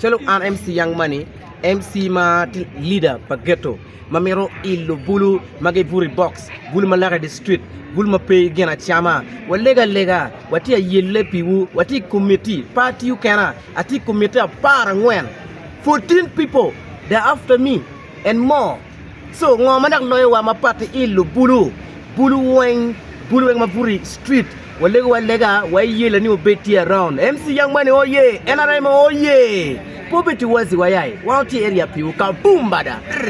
Calo an MC Young Money, MC ma tye leader pa Ghetto ma mito ilo bulu ma gibuto i box, bulu ma lake di street, bulu ma pe gin acama, walego alega, watye ayelle piwu, watye i komitti, pe atiyo kena, atye i komitti apar angwen, fourteen people they are after me. En mo, so ngo ma dok loyo wa ma pat i ilo bulu bulu weng bulu weng ma buto i street wa lego wa lega wa i yela ni obed tye around MC young money oh yeah nrm oh yeah poverty wazi wa ya i wa tye area piwu ka boom bada.